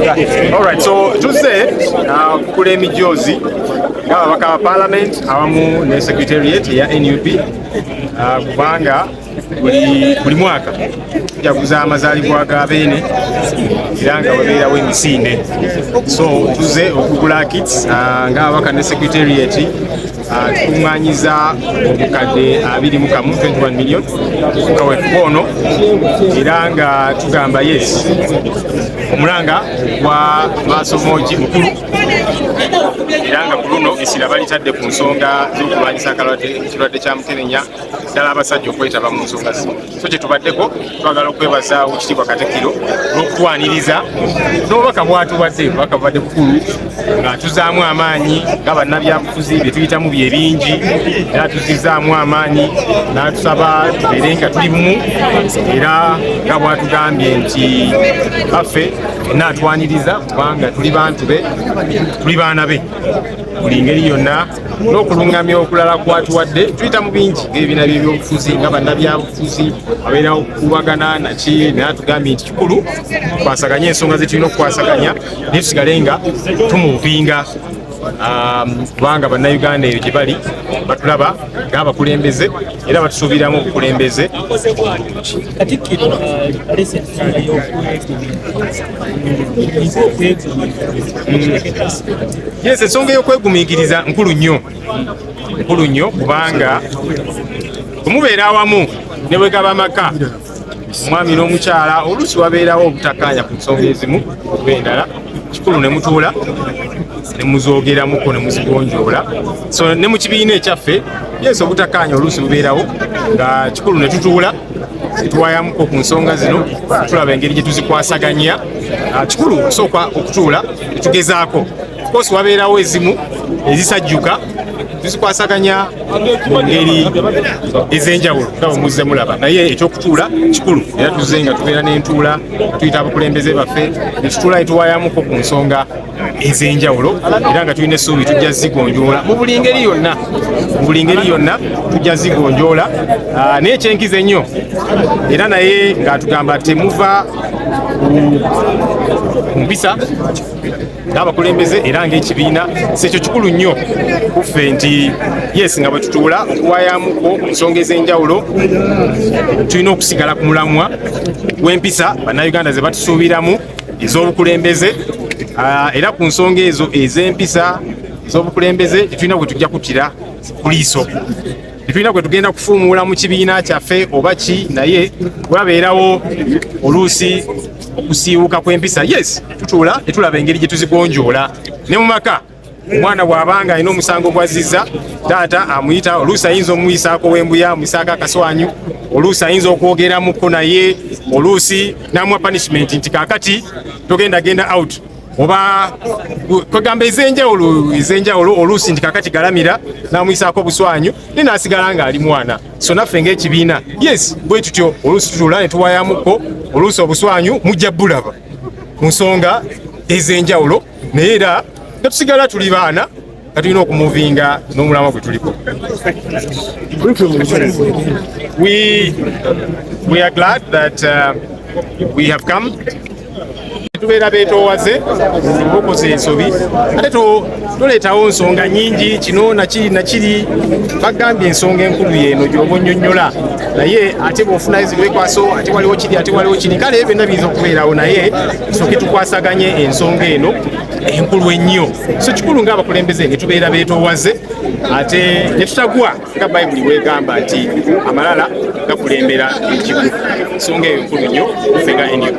Alright, so tuzze uh, kukula emijoozi ng'ababaka ba parliament awamu ne secretariat eya nup uh, kubanga buli mwaka tujaguza amazaalibwa ga beene era nga webeerawo emisinde so tuzze okugula kits uh, ng'ababaka ne secretariat tukuŋŋaanyiza obukadde abiri mu kamu 21 million kawefuka ono era nga tugamba yes omulanga gwa maasomoogi mukulu era nga ku luno essira balitadde ku nsonga z'okulwanyisa akalwadde ekirwadde kya mukenenya ddala abasajja okwetaba mu nsonga zino so kyetubaddeko twagala okwebaza wekitiibwa katikiro n'okutwaniriza n'obubaka bwatuwadde obubaka bubadde bukulu nga tuzaamu amaanyi nga bannabyabufuzi byetuyitamu bye bingi era tuzizaamu amaanyi natusaba tubeere nga tuli bumu era nga bwatugambye nti baffe enna atwaniriza kubanga tuli bantu be tuli baana be buli ngeri yonna n'okulungamya okulala kwatuwadde tuyita mu bingi ng'ebibiina by'ebyobufuzi nga bannabyabufuzi abeerawo okukubagana naki naye atugambye nti kikulu kwasaganya ensonga zetulina okukwasaganya naye tusigale nga tumuvinga um, kubanga bannayuganda eyo gye bali batulaba ng'abakulembeze era batusuubiramu obukulembeze yes ensonga ey'okwegumingiriza nkulu nnyo nkulu nnyo kubanga omubeera awamu ne bwe gaba amaka omwami n'omukyala oluusi wabeerawo obutakaanya ku nsonga ezimu oba endala kikulu ne mutuula ne muzogeramuko ne muzigonjoola so ne mu kibiina ekyaffe yesu obutakaanya oluusi bubeerawo nga kikulu ne tutuula twayamuko ku nsonga zino tulaba engeri gye tuzikwasaganya ah, kikulu okusooka okutuula etugezaako kosi wabeerawo ezimu ezisajjuka tuzikwasaganya mu ngeri ez'enjawulo nga bwemuzze mulaba naye ekyokutuula kikulu era tuzze nga tubeera n'entuula tuyita abakulembeze baffe netutuula netuwayamuko ku nsonga ez'enjawulo era nga tulina essuubi tujja zigonjoola mu buli ngeri yonna mu buli ngeri yonna tujja zigonjoola ah, naye ekyenkiza ennyo era naye ng'atugamba temuva ku mpisa n'abakulembeze era ng'ekibiina sekyo kikulu nnyo kuffe nti yes nga bwe tutuula okuwayamuko ku nsonga ez'enjawulo tulina okusigala ku mulamwa gw'empisa bannayuganda ze batusuubiramu ez'obukulembeze ah, era ku nsonga ezo ez'empisa ez'obukulembeze tetulina gwe tujja kutira kuliiso tetulina gwe tugenda kufuumuula mu kibiina kyaffe oba ki naye wabeerawo oluusi okusiiwuka kw'empisa yes tutuula netulaba engeri gye tuzigonjoola ne mu maka omwana bw'aba nga alina omusango gw'azzizza taata amuyita oluusi ayinza omuyisaako wembuya amuyisaako akaswanyu oluusi ayinza okwogeramuko naye oluusi n'amuwa punishment nti kaakati togenda genda out oba kwegamba ez'enjawulo ez'enjawulo oluusi nti kaakati galamira n'amuyisaako obuswanyu naye n'asigala ng'ali mwana so naffe ng'ekibiina yes bwe tutyo oluusi tutula ne tuwayamuko oluusi obuswanyu mujja bulaba mu nsonga ez'enjawulo naye era netusigala tuli baana nga tulina okumuvinga n'omulama gwe tuliko we are glad that uh, we have come tubeera betoowaze okoze ensobi ate toleetawo nsonga nyingi kino nakiri nakiri bagambye ensonga enkulu yeeno gyoba onyonyola naye ate bwofunayo zibwekwaso ate waliwo kiri ate waliwo kiri kale byonna biyinza okubeerawo naye tusooke tukwasaganye ensonga eno enkulu ennyo so kikulu ngaabakulembeze ne tubeera beetoowaze ate ne tutagwa nga bayibuli bwegamba nti amalala gakulembera ekigu ensonga eyo nkulu nnyo fe nga nup